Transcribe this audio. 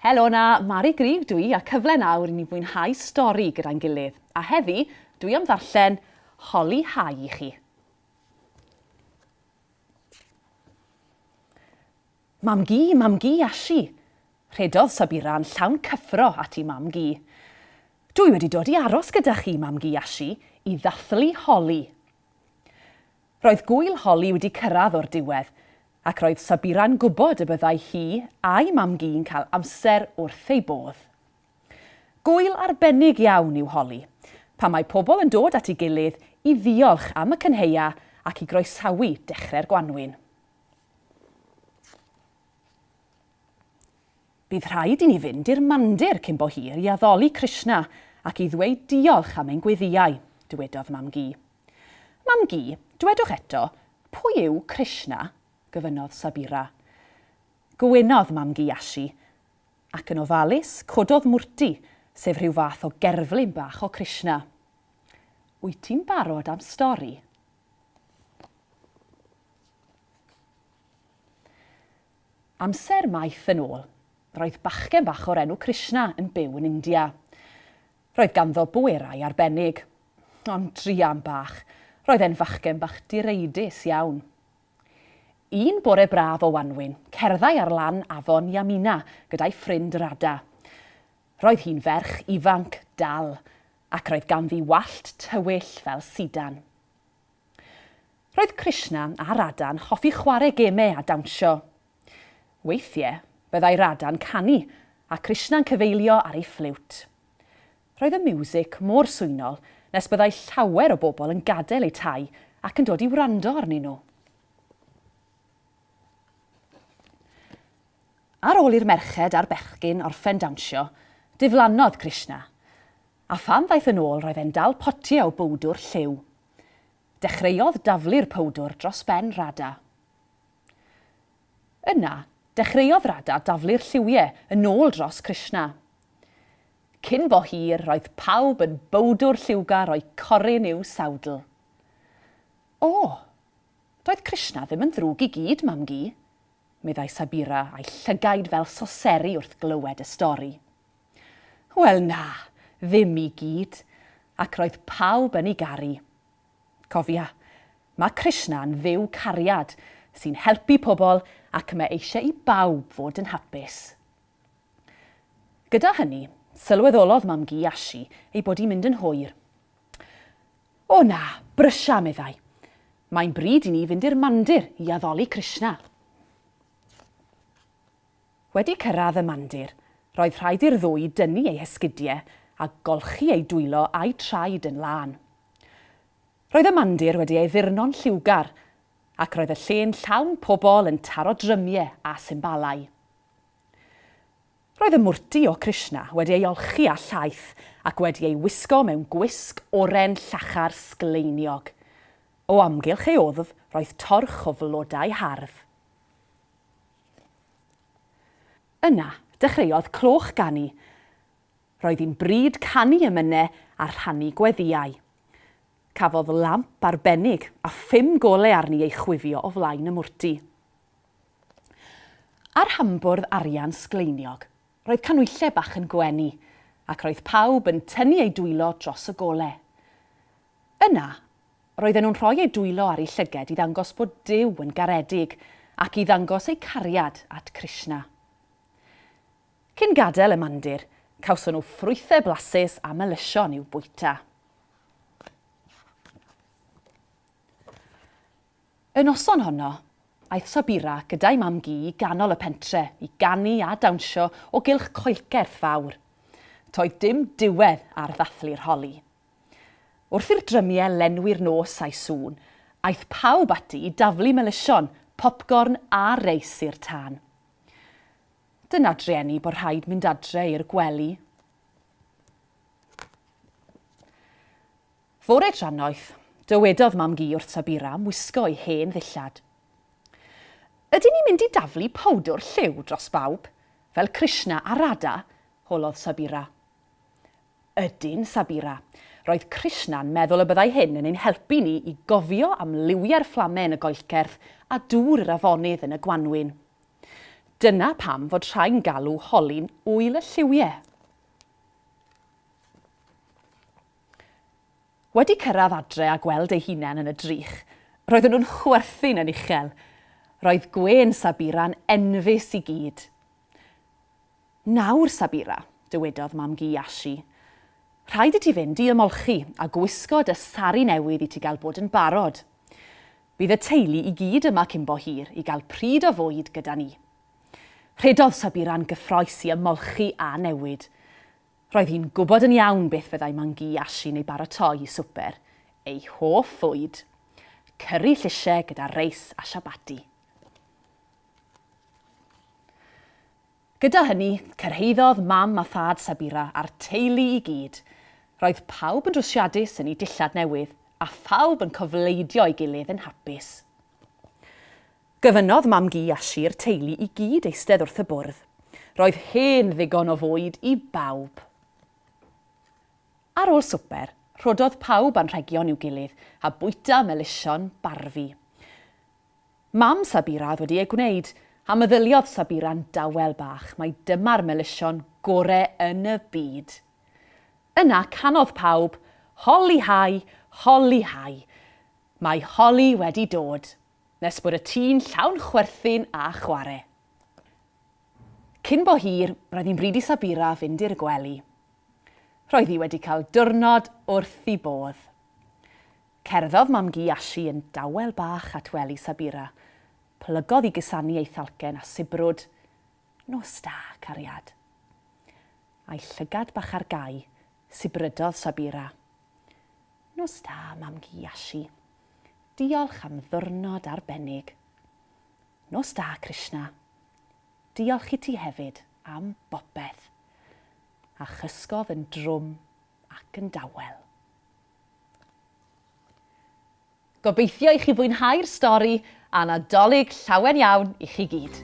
Helo na, Mari Grif dwi a cyfle nawr i ni fwynhau stori gyda'n gilydd. A heddi, dwi am ddarllen Holi Hau i chi. Mam-gu, mam-gu, Ashi! rhedodd Sabira yn llawn cyffro ati mam-gu. Dw i wedi dod i aros gyda chi, mam-gu Ashi, i ddathlu holi. Roedd gŵyl holi wedi cyrraedd o'r diwedd, ac roedd Sabira'n gwybod y byddai hi a'i mam-gu'n cael amser wrth ei bodd. Gŵyl arbennig iawn yw holi, pan mae pobl yn dod at ei gilydd i ddiolch am y cynheia ac i groesawu dechrau'r gwanwyn. Bydd rhaid i ni fynd i'r Mandir cyn bo hir i addoli Krishna ac i ddweud diolch am ein gweddïau, dywedodd Mam-gu. Mam-gu, dwedwch eto, pwy yw Krishna? gofynnodd Sabira. Gwynodd Mam-gu Yashi, ac yn ofalus, cododd Murti, sef rhyw fath o gerflun bach o Krishna. Wyt ti'n barod am stori? Amser maith yn ôl, roedd bachgen bach o'r enw Krishna yn byw yn India. Roedd ganddo bwerau arbennig. Ond druan bach, roedd e'n fachgen bach direidus iawn. Un bore braf o wanwyn, cerddai ar lan afon Yamuna gyda'i ffrind Radha. Roedd hi'n ferch ifanc, dal, ac roedd ganddi wallt tywyll fel sidan. Roedd Krishna a Radha'n hoffi chwarae gemau a dawnsio. Weithiau, byddai Radha'n canu a Krishna'n cyfeilio ar ei ffliwt. Roedd y miwsig mor swynol nes byddai llawer o bobl yn gadael eu tai ac yn dod i wrando arnyn nhw. Ar ôl i'r merched a'r bechgyn orffen dawnsio, diflannodd Krishna. A phan ddaeth yn ôl roedd e'n dal potiau o bowdwr lliw. Dechreuodd daflu'r powdwr dros ben Rada. Yna, dechreuodd Rada daflu'r lliwie yn ôl dros Krishna. Cyn bo hir, roedd pawb yn bowdwr lliwgar o'u corun i'w sawdl. O! Doedd Krishna ddim yn ddrwg i gyd, Mam-gu, meddai Sabira a'i llygaid fel soseri wrth glywed y stori. Wel na, ddim i gyd, ac roedd pawb yn ei garu. Cofia, mae Krishna yn Dduw cariad sy'n helpu pobl ac mae eisiau i bawb fod yn hapus. Gyda hynny, sylweddolodd Mam-gu Ashi ei bod hi'n mynd yn hwyr. O na, brysia, meddai. Mae'n bryd i ni fynd i'r mandir i addoli Krishna. Wedi cyrraedd y mandir, roedd rhaid i'r ddwy dynnu eu hesgidiau a golchi eu dwylo a'u traed yn lân. Roedd y mandir wedi ei addurno'n lliwgar, ac roedd y lle'n llawn pobl yn taro drymiau a symbalau. Roedd y mwrti o Krishna wedi ei olchi â llaeth ac wedi ei wisgo mewn gwisg oren llachar sgleiniog. O amgylch ei wddf roedd torch o flodau hardd. Yna, dechreuodd cloch ganu. Roedd hi'n bryd canu emynau a rhannu gweddïau. Cafodd lamp arbennig a phum golau arni ei chwifio o flaen y mwrti. Ar hambwrdd arian sgleiniog, roedd canwylle bach yn gwenu, ac roedd pawb yn tynnu eu dwylo dros y golau. Yna, Roedden nhw'n rhoi eu dwylo ar eu llyged i ddangos bod Duw yn garedig ac i ddangos eu cariad at Krishna. Cyn gadael y mandir, cawson nhw ffrwythau blasus a melysion i'w bwyta. Y noson honno, aeth Sabira gyda'i mam-gu i ganol y pentre i ganu a dawnsio o gylch coelcerth fawr. Toedd dim diwedd ar ddathlu'r holi. Wrth i'r drymiau lenwi'r nos a'u sŵn, aeth pawb ati i daflu melysion, popgorn a reis i'r tân. Dyna drueni bod rhaid mynd adre i'r gwely. Fore drannoeth, dywedodd Mam-gu wrth Sabira am wisgo ei hen ddillad. Ydyn ni'n mynd i daflu powdwr lliw dros bawb, fel Krishna a Radha? holodd Sabira. Ydyn, Sabira. Roedd Krishna'n meddwl y byddai hyn yn ein helpu ni i gofio am liwiau'r fflame yn y goellcerth a dŵr yr afonydd yn y gwanwyn. Dyna pam fod rhai'n galw Holi'n Ŵyl y Lliwiau. Wedi cyrraedd adre a gweld eu hunain yn y drych, roedden nhw'n chwerthin yn uchel. Roedd gwên Sabira'n enfys i gyd. Nawr, Sabira, dywedodd Mam-gu Yashi, rhaid i ti fynd i ymolchi a gwisgo dy sari newydd i ti gael bod yn barod. Bydd y teulu i gyd yma cyn-bo hir i gael pryd o fwyd gyda ni. Rhedodd Sabira'n gyffroes i ymolchi a newid. Roedd hi'n gwybod yn iawn beth fyddai Mam-gu Yashi'n ei baratoi i swper, ei hoff fwyd, cyri llysiau gyda reis a siabati. Gyda hynny, cyrhaeddodd Mam a Thad Sabira a'r teulu i gyd. Roedd pawb yn rwsiadus yn eu dillad newydd, a phawb yn cofleidio ei gilydd yn hapus. Gofynnodd Mam-gu Yashi'r teulu i gyd eistedd wrth y bwrdd. Roedd hen ddigon o fwyd i bawb. Ar ôl swper, rhododd pawb anrhegion i'w gilydd a bwyta melysion barfi. Mam Sabira oedd wedi e gwneud, a meddyliodd Sabira'n dawel bach, mai dyma'r melysion gore yn y byd. Yna canodd pawb, Holi Hai, Holi Hai! Mae Holi wedi dod! nes bod y tŷ'n llawn chwerthin a chware. Cyn bo hir, roedd hi'n bryd i Sabira fynd i'r gwely. Roedd hi wedi cael diwrnod wrth i bodd. Cerddodd mam-gu Ashi yn dawel bach at wely Sabira, plygodd i gusanu ei thalcen a sibrwd, Nos da, cariad. A'i llygad bach ar gau, sibrydodd Sabira, Nos da, mam-gu Ashi. Diolch am ddiwrnod arbennig. Nos da, Krishna. Diolch i ti hefyd am bopeth. A chysgodd yn drwm ac yn dawel. Gobeithio i chi fwynhau'r stori a Nadolig llawen iawn i chi gyd.